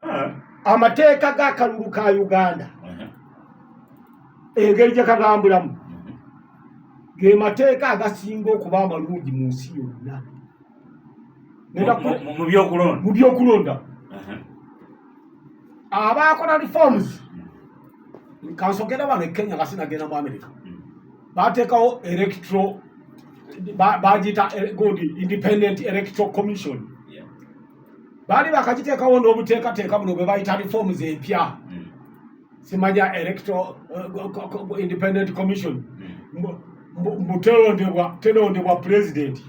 ah. amateeka g'akalulu ka uganda uh-huh. engeri gye kagambulamu uh-huh. ge mateeka agasinga okuba amalungi mu nsi yonna mu byokulonda uh-huh. abaakola reforms mm. kansogera bano e kenya nga sinagenda mu america mm. bateekawo electro bagiyita eh, gundi independent electro commission baali bakakiteekawo n'obuteekateeka buno bwe bayita reforms empya hmm. simanya electoral uh, independent commission mbutelondebwa hmm. telondebwa president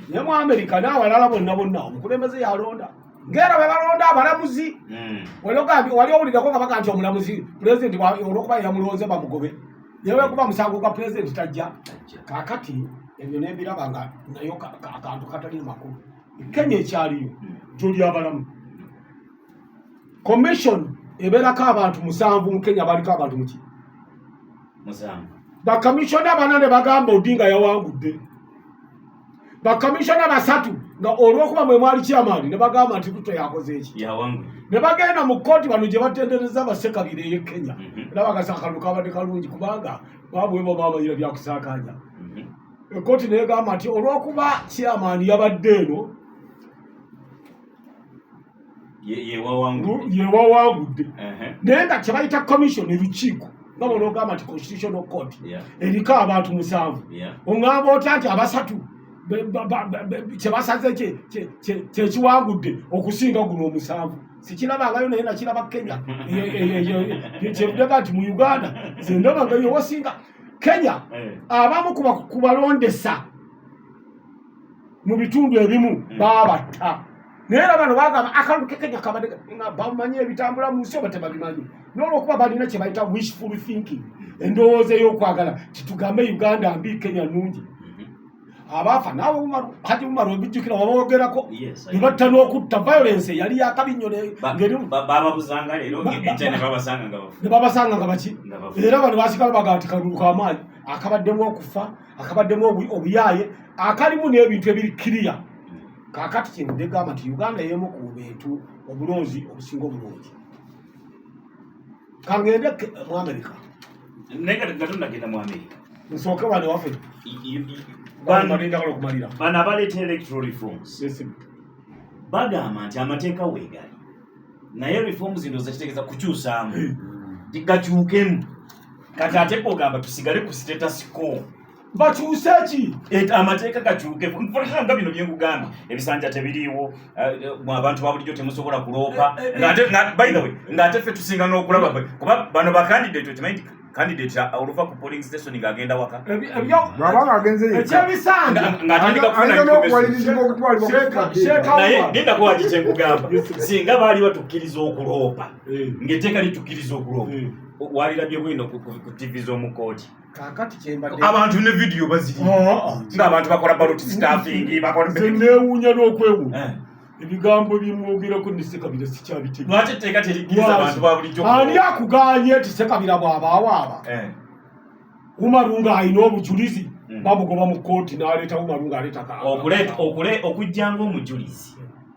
ne mu america n'awalala bonna bonna omukulembeze yalonda ngera bwe balonda abalamuzi hmm. walogambi wali owulirako nga baga nti omulamuzi president olwokuba yamulonze bamugobe newekuba musango gwa president tajja kakati ebyo nebiraba nga nayo akantu katali makulu kenya ekyaliyo gyoli abalamu commission ebeerako abantu musanvu mu kenya baliko abantu muki bakamisiona bana ne bagamba odinga yawangudde bakamisiona basatu nga olwokuba mwe mwali kyamaani ne bagamba nti ruto yakoze eki ne bagenda mu kkooti bano gye batendereza basekabira eye kenya mhm. era bagasa akalulu kabadde kalungi kubanga babwebo bamanyira byakusaakanya mhm. ekkooti negamba nti olwokuba chairman yabadde eno yewawangudde naye nga kyebayita commission elukiiko nga bona ogamba nti constitutional court eriko abantu musanvu ongamba otya nti abasatu kyebasaze kyekiwangudde okusinga guno omusanvu sikilabangayo naye nakilaba kenya kyebudega nti mu uganda zendabangayo wasinga kenya eh. abamu ku balondesa mu bitundu ebimu eh. babatta naye era bano bagamba akalulu ke kenya kabadde nga bamanyi ebitambula mu nsi oba tebabimanyi nolwokuba balina kye bayita wishful thinking endowooza ey'okwagala titugambe uganda mbi kenya nungi abaafa naawe haji umaru ebijjukira wabawogerako ne batta n'okutta violence yali yakabi nnyo bababuzanga leero ne babasanga nga baki era bano basigala baga nti kalulu kamaanyi akabaddemu okufa akabaddemu obuyaaye akalimu n'ebintu ebiri kiriya kakati kintu negamba nti uganda yemu ku bintu obulungi obusinga obulungi kangende mu amerika naye kati gato nagenda mu amerika nsooke wano ewaffe bano abaleeta electoral reforms bagamba nti amateeka weegali naye reforms ndo zakitegeeza kukyusaamu hmm. gakyukemu kati ate kogamba tusigale ku status quo bakyuse ki amateeka gakyuke nga bino byenkugambye ebisanja tebiriiwo eh, eh, abantu babulijjo temusobola kuloopa eh, by the way ngaate ffe tusinga n'okulaba kuba bano bakandidate okimanyi candidate oluva ku polling station ng'agenda waka bwabanga agenze ekyebisanja ng'atandika kufunaye genda kuwaki kyenkugamba singa baali batukkiriza okuloopa eh. ng'eteeka litukkiriza okuloopa eh. walirabye bwino ku ttivi z'omu kooti abantu ne vidiyo baziri oh, oh, oh. ngaabantu bakola baloti sitafingi bakolanewuunya n'okwewunya eh. ebigambo byemwogerako nesekabira sikyabitegeaani akuganye ti sekabira bwabawaaba eh. umaru ng'alina obujulizi hmm. bamugoba mu kooti n'aleeta umaru ng'aleeta okujjanga omujulizi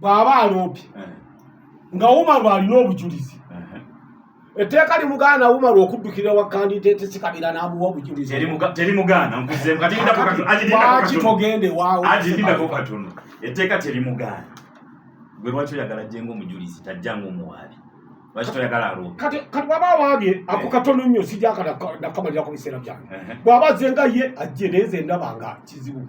bw'aba aloopye eh. nga umaru alina obujulizi eh. etteeka limugaana umaru okuddukira wa kandidate sikabira n'amuwa obujuliziwaki togende wawoagindako katono etteeka terimugaana gwe lwaki oyagala jenga omujulizi tajja ngaomuwaabi kati bwaba awabye ako eh. katono nnyo sijakanakamalirakubisera byange bwaba azenga ye ajje naye nze ndaba nga kizibu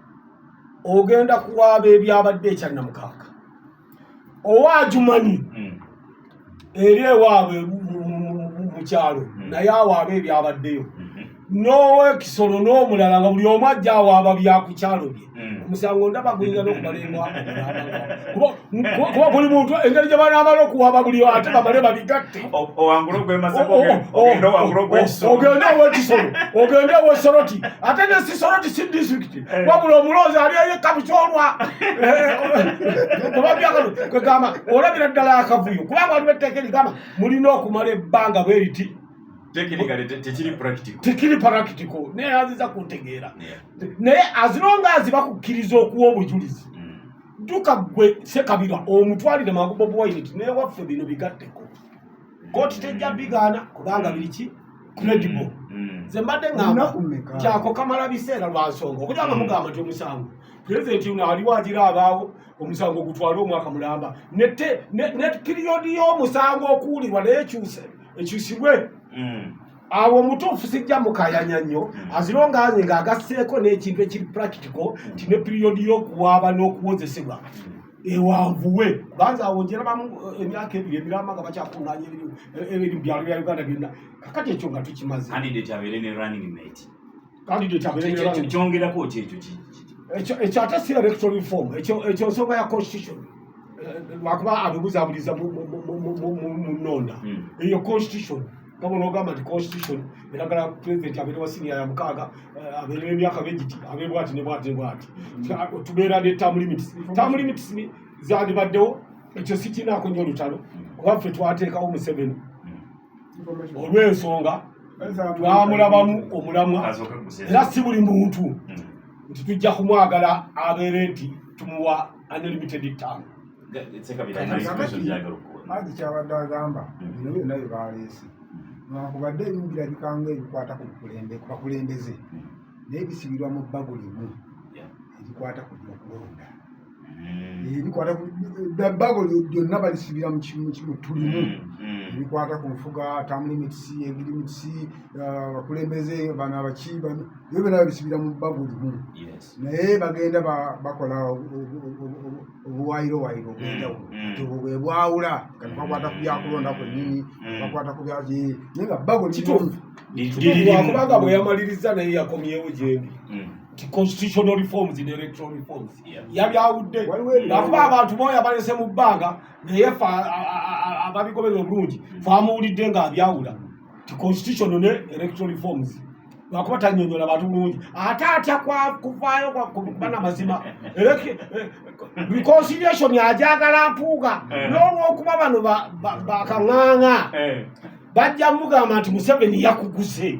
ogenda kuwaaba ebyabadde ekyannamukaaga owa ajumanyi hmm. eri ewaabwe mu kyalo hmm. naye awaaba ebyabaddeyo hmm. n'owekisolo n'omulala nga buli omu ajja awaaba byakukyalo bye omusango ndaba guyinza n'okubalengwa kuba buli muntu engeri gye banaamala okuwaba buli ate bamale babigatte ogende owekisolo ogende owesoroti ate ne sisoroti si disitulikiti eh. wabula omuloozi ali eyekka bukyolwa kubabyakalo kwegamba olabira ddala akavuyo kubanga waliwo etteeka erigamba mulina okumala ebbanga bweriti tekiri practical naye aziza kuntegeera naye azironga azibakukkiriza okuwa obujulizi duka gwe sekabira omutwalire mangu bobi wine ti naye waffe bino bigatteko koti tejja bigaana kubanga biri ki credible mm, mm. nze mbadde ngamba kyako kamala biseera lwa nsonga okuja nga mm. mugamba nti omusango pulezidenti uno aliwo agira abaawo omusango ogutwala omwaka mulamba nete ne piriyodi y'omusango okuwulirwa naye ekyuse ekyusibwe awo omutuufu sijja mukayanya nnyo hmm. azirongange nga agasseeko n'ekintu ekiri practical hmm. nti ne piriyodi y'okuwaaba n'okuwozesebwa hmm. ewanvuwe kubanza awo njerabamu eh, emyaka ebiri emiramba nga bakyakuŋanya ebiri mu byalo bya uganda byonna kakati ekyo nga tukimaze kyongerako kyekyo ki ekyo ate si electoral reform ekyo nsonga ya constitution eh, lwakuba abibuzabuliza mu nonda hmm. eyo constitution kama onogamba nti constitution eragala president abeere wa siniya ya mukaaga eh, abeere emyaka begiti abeere bwati ne bwati ne bwati hmm. tubeera ne term limits term limits zandibaddewo ekyo sikinaako nyo olutalo kuba ffe twateekawo museveni olw'ensonga twamulabamu omulamwa era si buli muntu hmm. nti tujja kumwagala abeere nti tumuwa unlimited time maji kyabadde agamba hmm. bino byonna bye baleese nwankubadde ebimu birabikanga ebikwata ku bakulembeze hmm. naye bisibirwa mu bbago limu erikwata ku byokulonda ebikwata ebbago lyonna balisibira mu kimu kimu tulimu ebikwata ku nfuga tamulimitisi egirimitisi abakulembeze bano abaki ebyo byona babisibira mu bbago limu naye bagenda bakola obuwayirowayiro obwenjawulo ti obwo bwe bwawula kati bakwata ku byakulonda kwennyini bakwata ku byaki naye nga bbago limu kubanga bwe yamaliriza naye yakomyewo gyendi constitutional reforms ne electoral reforms yabyawudde akuba abantu boyo abalese mu bbanga naye fe ababigoberera obulungi famuwulidde nga abyawula ti constitutional ne electoral reforms lwakuba tanyonyola bantu bulungi ate atya kuvaayo kubana mazima reconciliation ajagala mpuuga eh. n'olwokuba bano bakaŋaŋa eh. bajja mugamba nti museveni yakuguze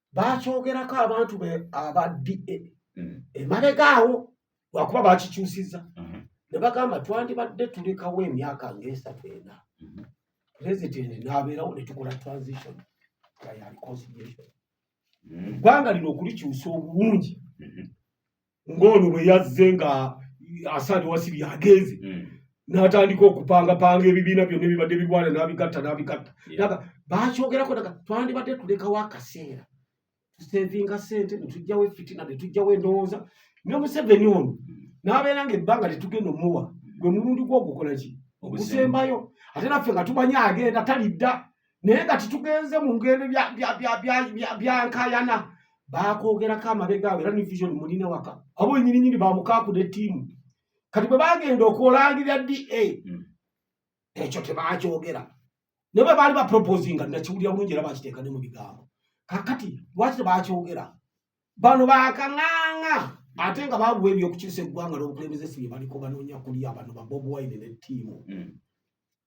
baakyogerako abantu be aba da mm. emabega awo lwakuba bakikyusiza mm-hmm. ne bagamba twandibadde tulekawo emyaka ngaesatu ena mm-hmm. pulezidenti n'abeerawo ne tukola transition ya reconciliation mm. eggwanga lino okulikyusa obulungi mm-hmm. ng'ono bwe yazze nga asaade wasibi agenze mm. n'atandika okupangapanga ebibiina byonna ebibadde bigwana n'abigatta n'abigatta aga bakyogerako daga twandibadde tulekawo akaseera tusevinga sente netujjawo efitina netujjawo endowooza ne museveni ono n'abeera nga ebbanga tetugenda omuwa gwe mulundi gwogukola ki ogusembayo ate naffe nga tumanye agenda talidda naye nga titugenze mu ngendo byankayana bakwogerako amabega awo era ne vision mulina waka abo wenyininyini bamukaakuda ettiimu kati bwe bagenda okulangirira da hmm. ekyo tebakyogera naye bwe baali baproposinga nakiwulira bulungi era bakiteeka ne mu bigambo kakati lwaki tebakyogera bano bakaŋaŋa ate nga babuwa ebyokukyusa eggwanga n'obukulembeze si bye baliko banoonya kulya bano babobuwaine ne ttiimu hmm.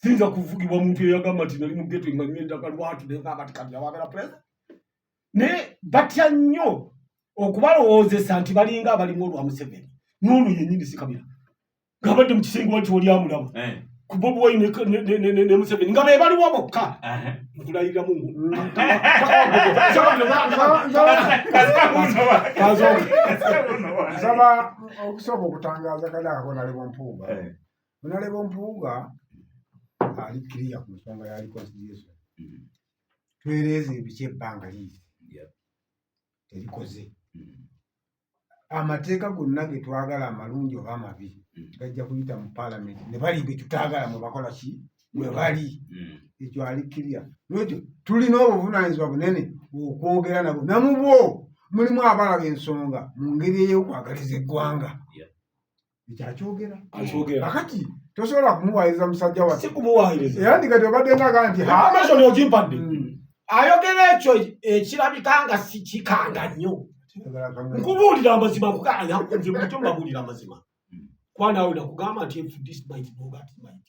Sinza kuvugibwa omuntu eyagamba nti nali mugeto nga nyo endaga lwatu naye nga kati kati abagala pulezida naye batya nnyo okubalowoozesa nti balinga abalimu olwa Museveni n'olwo yennyini sikabira ng'abadde mu kisenge wati oli amulaba eh. ku Bobi Wine ne Museveni nga be baliwo bokka nkulayirira mu nsaba okusooka okutangaaza kale akola ali bumpuuba eh. Munaleba ompuuga ali kiriya ku nsonga ya reconciliation mm-hmm. twereeza ebiki ebbanga liiri terikoze mm-hmm. amateeka gonna ge twagala amalungi oba amabi mm-hmm. gajja kuyita mu paalamenti ne bali be tutaagala mwe bakola ki mwe bali ekyo ali kiriya nwekyo tulina obuvunaanyizibwa bunene okwogera nabo namubwo mulimu abalaba ensonga mu ngeri ey'okwagaliza eggwanga ekyakyogera kakati tosobola kumuwayiriza musajja wasikumuwayiriza era ndi kati obadde ngaga nti amashoni ogimpadde hmm. ayogera ekyo ekirabika nga sikikanga nnyo nkubuulira amazima kukanya nze buto mbabuulira amazima hmm. kwanaawe nakugamba nti fdc might know that might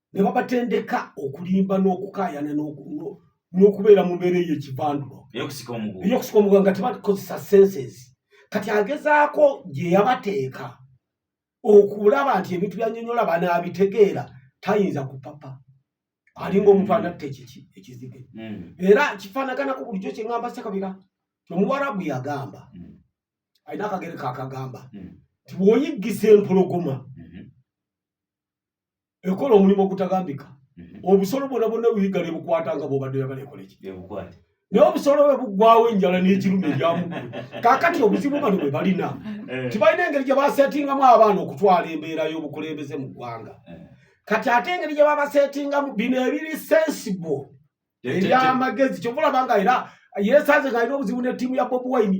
ne babatendeka okulimba n'okukaayana n'okubeera mu mbeera eyo ekivandulo eyokusika omuguwa nga tebakozesa senses kati agezaako gye yabateeka okulaba nti ebintu byanyonyola banaabitegeera tayinza kupapa alinga omuntu anatta ekiki ekizige hmm. era kifaanaganako bulijjo kyeŋamba sekabira omuwarabu yagamba hmm. alina akagere kakagamba hmm. nti bwoyiggisa empologoma ekola omulimu ogutagambika mhm. obusolo bwona bwonna buyiga ne bukwata nga bwobadde oyagala ekola eki naye obusolo bwe buggwawo enjala n'ekirumu ebyamuggulu kakati obuzibu bano bwe balina eh. tibalina engeri gye basetingamu abaana okutwala embeera y'obukulembeze mu ggwanga eh. kati ate engeri gye babasetingamu bino ebiri sensible ebyamagezi kyova olaba nga era yesanze nga alina obuzibu ne ttiimu ya bobi wine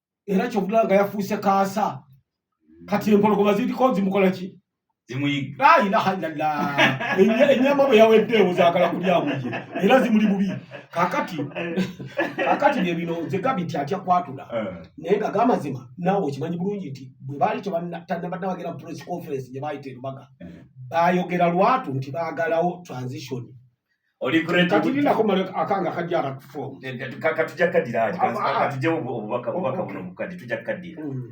era kyovula nga yafuuse kaasa hmm. kati empologoma ziriko zimukola ki enyama bwe yaweddeewo zaagala kulyamuye era zimuli bubi kakati kakati bye bino nze gabi nti atya kwatula eh. naye nga gamazima naawe okimanyi bulungi nti bwe baali tebanabagera press conference gye baayita erubaga eh. baayogera lwatu nti baagalawo transition oli great kati nina ko male akanga kajara form kati jakadira kati jawo obubaka obubaka buno kati tujakadira mm.